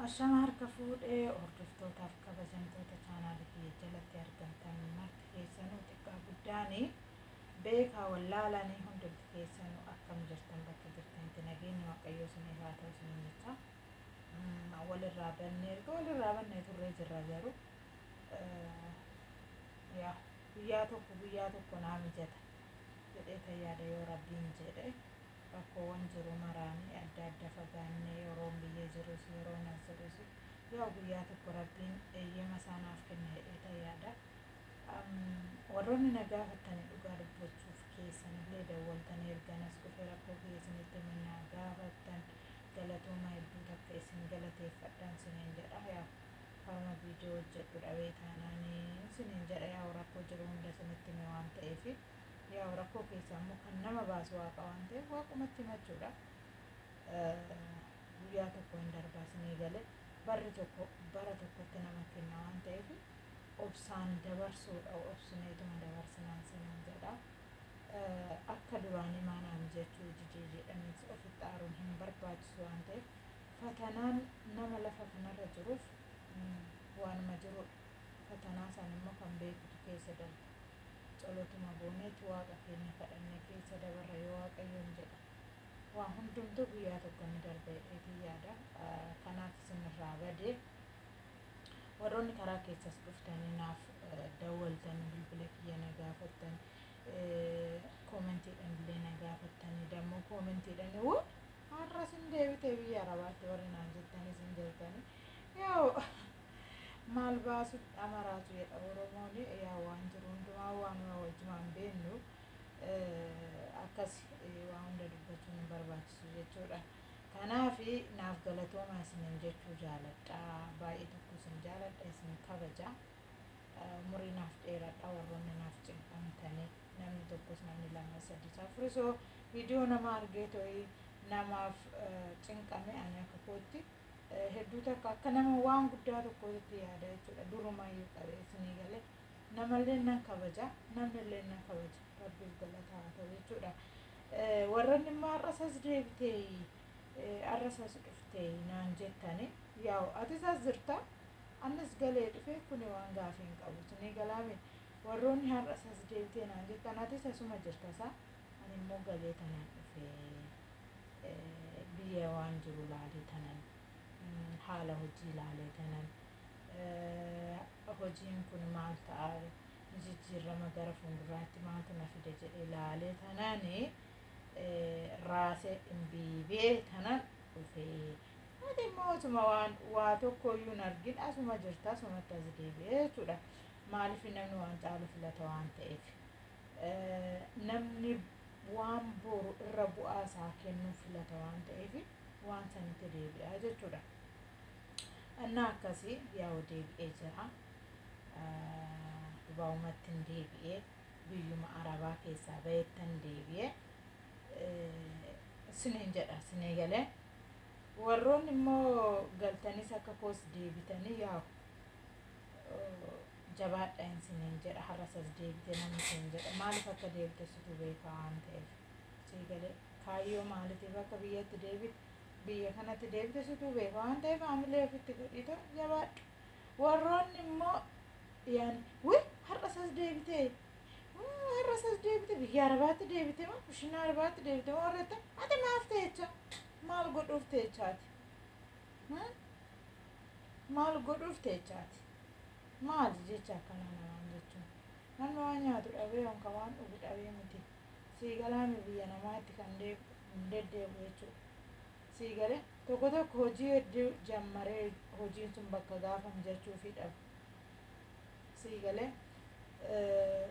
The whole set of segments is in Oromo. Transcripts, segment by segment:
Ashama harka fuudhe hordoftootaaf kabajamtoota chaanaali kiyya jalatti argamtan marti keessanuu xiqqaa guddaani beekaa wallaalaanii hundumti keessanuu akkam jirtan bakka jirtanitti nageenyi waaqayyoo isin irraa ta'u isin jecha walirraa bannee erga walirraa bannee turree jirra garuu yaa guyyaa tokko guyyaa tokko naa mijata jedhee tayyaada yoo rabbiin jedhe Rakkoowwan jiru maraan adda adda fagaannee yeroon biyya jirus yeroon as jirus yoo guyyaa tokko Rabbiin eeyyama isaa naaf kenna jedheetan yaada. Warroonni na gaafattani dhugaa dubbachuuf keessanillee dawwaltanii ergan as dhufe rakkoo kiyya isinitti hime na gaafattan galatooma hedduu takka isin galateeffadhan siniin jedha. Yaa haruma viidiyoo hojjedhu dhabee taanaan siniin jedha yaa'u rakkoo jiru hunda isinitti hime waan ta'eef. Yaa rakkoo keessaa immoo kan nama baasu waaqa waan ta'eef waaqumatti himachuudha. Guyyaa tokko hin darbaa sinii gale barri tokko bara tokkotti nama kenna waan ta'eef obsaan dabarsuudha obsineetuma dabarsinaan sinaan jedha. Akka duraan imaanaan jechuu didee jedhaniis ofitti aaruun hin barbaachisu waan ta'eef fatanaan nama lafa kanarra jiruuf waanuma jirudha. Fatanaa san immoo kan beekutu keessa darba. Tsolotuma gooneetu Waaqa keenya kadhannee keessa dabarra yoo Waaqayyoon jedhe. Waa hundumtuu guyyaa tokko ni darba jedheetiin yaada. Kanaaf isin irraa badee warroonni karaa keessas dhuftanii naaf dawwaltanii bilbila kiyya na gaafattan koomentiidhaan illee na gaafattanii dammoo koomentiidhaan wuu har'as hin deebitee biyya arabaatti warri naan jettanis hin jirtanii yoo Maal baasuuf dhamaraatu jedha Oromoon yaa waan jiru hundumaa waanuma wajjumaan beennu akkas waa hunda dubbachuun hin barbaachisu jechuudha. Kanaaf naaf galatoomaa isiniin jechuu jaaladha. Baay'ee tokko isin jaaladha isin kabaja. Umurii naaf dheeradha warroonni naaf cimfamtanii namni tokkos namni lama sadii safurisoo viidiyoo nama argee to'ii namaaf cinqame ani akka kootti hedduu takka akka nama waan guddaa tokkootti yaada jechuudha durumayyuu qabee isinii galee namallee nan kabaja namnillee nan kabaja rabbiif galataa haa ta'u jechuudha warranni immoo har'asas deebitee har'asas dhuftee naan jettani yaa'u atis as jirta annis galee dhufee kuni waan gaafii hin qabu isinii galaame warroonni har'asas deebitee naan jettan atis asuma jirta isaa Ani immoo galee tanan dhufe biyya waan jiru laalee tanan haala hojii laalee tanan hojiin kun maal ta'a jijjiirrama gara fuulduraatti maaltu na fida jedhee laalee tanan raasee dhimbiibee tanan dhufe. Ati immoo otuma waan waa tokko iyyuu hin argin asuma jirta asumatti as deebi'e jechuudha. Maaliif namni waan caalu filata waan ta'eef. Namni waan boru irra bu'aa isaa kennuu filata waan ta'eef waan sanitti deebi'a jechuudha. Annaa akkasii yaa'u deebi'ee jira. Dubaa'umatti hin deebi'ee biyyuma arabaa keessaa ba'ettan deebi'ee sinin jedha sinii galee warroonni immoo galtanis akka koos deebitanii yaa'u jabaadha hin siniin jedha har'as as deebite namni siin jedha maaliif akka deebite situ beeka waan ta'eef sii galee kaayyoo maalitiif akka biyyatti deebite biyya kanatti deebite situ beeka waan ta'eef haamilee ofitti godhiito jabaadhu warroonni immoo yaan wii har'as as deebite "Hmm, har'as as deebite biyya arabaatti deebite moo kushinaa arabaatti deebite moo warra ta'e ati maaf ta'echa maal godhuuf ta'echaati Hmm? maal godhuuf ta'echaati Maali jecha akkanaa namaan jechuun? Namni waan nyaatu dhabee on kan waan dhugu dhabee miti. Sii galaamii biyya namaatti kan deebi'u hin deddeebi'u jechuudha. Sii galee? Tokko tokko hojii hedduu jammaree hojiin sun bakka gaafa mijachuufii dhabu. Sii galee?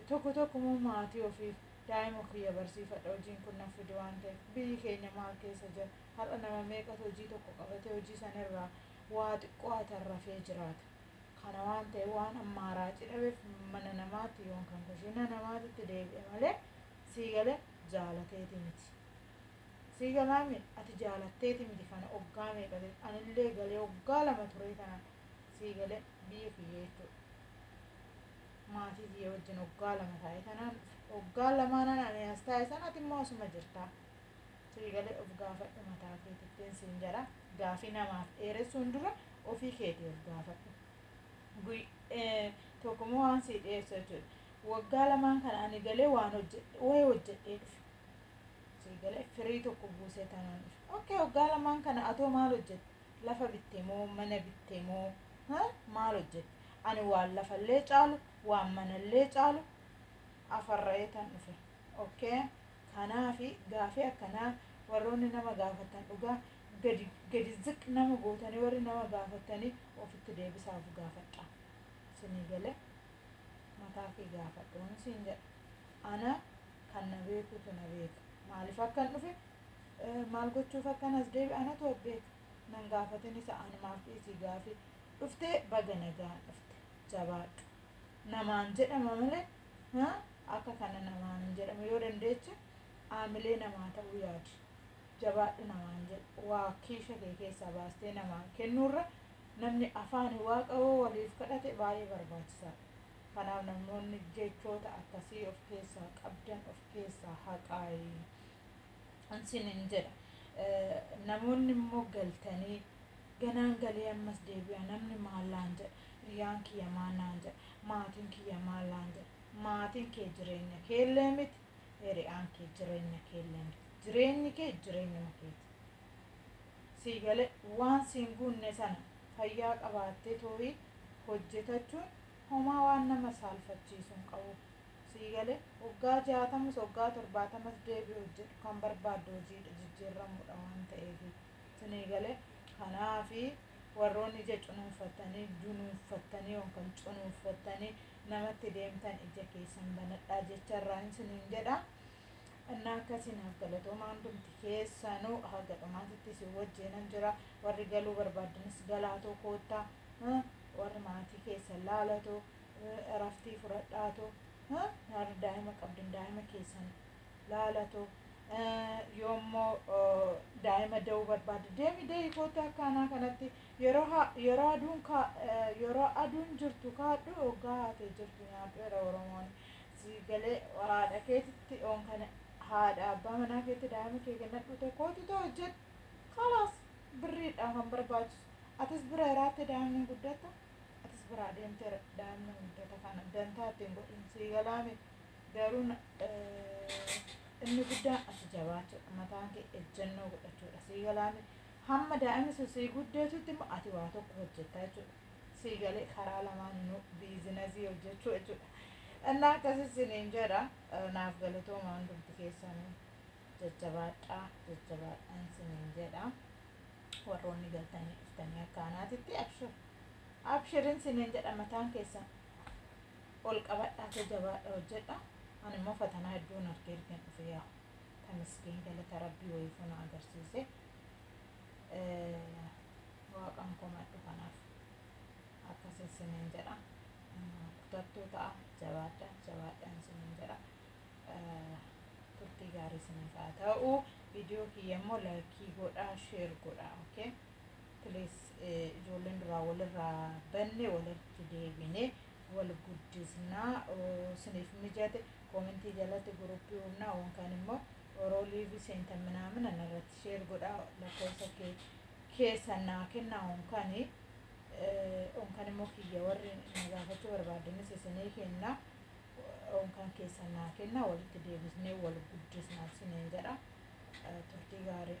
Tokko tokko immoo maatii ofiif daa'ima kiyya barsiifadha hojiin kun naf fide waan ta'eef biyyi keenya maal keessa jira har'a nama meeqatu hojii tokko qabatee hojii sanirraa waa xiqqoo hatan rafee jiraata. Kana waan ta'e waan ammaa raaci dhabeef mana namaatti yoon kan kushiina namaatitti deebi'e malee sii gale jaalateeti miti. Sii galaami ati jaalatteeti miti kana oggaa meeqa ta'e anillee galee oggaa lama turee tanan sii gale biyya kiyya jechuudha. Maatii kiyya wajjin oggaa lama taa'e tanaan oggaa lamaanan ani as taa'e san ati immoo asuma jirtaa. Sii galee of gaafadhu mataa keetittiin siin jedha gaafii namaaf dheeressuun dura ofii keetii of gaafadhu Guy- eh, tokkummoo waan sii dhiyeessu jechuudha waggaa lamaan kana ani galee waan hojjedhe wayii hojjedhee dhufe sii galee firii tokko buusee tanaan dhufe okkee waggaa lamaan kana atoo maal hojjette lafa bitte moo mana bitte moo ha? maal hojjette ani waan lafallee caalu waan manallee caalu afarra'ee tan dhufe okkee Kanaafi gaafii akkanaa warroonni nama gaafattan dhugaa gadi gadi ziq nama gootanii warri nama gaafattani ofitti deebisaa of gaafadhaa. Sinii galee? Mataa kee gaafadhuun siin jedha. Ana kan na beekuutu na beeka. Maaliif akkan dhufe maal gochuuf akkan as deebi anatu of beeka. Nan gaafatin isa anumaaf dhiisii gaafii. Dhuftee baga nagaan dhufte. Jabaadhu. namaan jedhama malee ha, akka kana namaan hin jedhamu yoo dandeeche aamilee namaa ta'uu yaadi jabaadhu namaan jedhu waa kiisha kee keessaa baastee namaan kennuurra namni afaani waaqa yoo waliif kadhate baay'ee barbaachisaadha kanaaf namoonni jechoota akkasii of keessaa qabdan of keessaa haqaayi an sinin jedha namoonni immoo galtanii ganaan galee ammas deebi'a namni maallaan jedha hiriyaan kiyya maallaan jedha maatiin kiyya maallaan jedha maatiin kee jireenya keellee miti hiriyaan kee jireenya keellee miti jireenyi kee jireenyuma keeti sii galee waan siin guunne sana fayyaa qabaattee tooyii hojjetachuun homaa waan nama saalfachiisu hin qabu sii galee waggaa jaatamus waggaa torbaatamas deebii hojjedhu kan barbaaddu hojiidha jijjiirramuudha waan ta'eef sinii galee kanaafi warroonni ija cunuunfattanii dunuunfattanii yookaan cunuunfattanii namatti deemtan ija keessan banadhaa jecha irraa hin siniin jedha innaa akkasii naaf galatooma hundumti keessanuu haga dhumaatitti isin wajjiinan jira warri galuu barbaaddanis galaatoo koottaa warri maatii keessan laalatoo Eraftii fudhadhaa too. Ha? Warri daa'ima qabdan daa'ima keessan laala too. Yoo immoo daa'ima da'uu barbaadde deemi deehi kootta akka anaa kanatti yeroo ha- yeroo aduun kaa yeroo aduun jirtu kaadhu oggaa haatee jirtu nyaadhu era Oromoon. Si galee haadha keetitti oon kana haadha abbaa manaa keetti daa'ima kee kennadhu too kootu too hojjedhu. Kalaas birriidha kan barbaachisu. Atis bira iraatte daa'imni hin guddattu. atis biraa deemtee daa'imni guddata kana dantaa ittiin godhin sii galaame garuu inni guddaan ati jabaachuudha mataan kee ejjennoo godhachuudha sii galaame hamma daa'imni sun sii guddatutti immoo ati waa tokko hojjettaa jechuudha sii galee karaa lamaan nu biizinazii hojjechuu jechuudha innaa akkasii siniin jedha naaf galatoomaa hundumti keessanii jajjabaadhaa jajjabaadhaan siniin jedha. warroonni galtanii dhuftanii akka anaatitti abshir abshirin siniin jedha mataan keessan ol qabadhaatee jabaadha hojjedha ani immoo fatanaa hedduun argee ergeen dhufe yaa tamiskiin galata rabbii wayiifuu na agarsiise waaqan komadhu kanaaf akkasii siniin jedha kutattuu ta'a jabaadha jabaadhaan siniin jedha turtii gaarii isiniif haa ta'u viidiyoo kiyya immoo laayikii godhaa sheer godhaa okay please ijoolleen duraa walirraa banne walitti deebine wal guddisnaa isiniif mijate koomentii jalatti guruppii uumnaa waan kaan immoo oroo liivii seentan minaamin anarratti sheer godhaa lakkoofsa kee keessan naa kennaa waan kaan waan kaan immoo kiyya warri na gaafachuu barbaadanis isinii kennaa Unkaa keessan naa kenna walitti deebisnee wal guddisna siniin jedha turtii gaarii.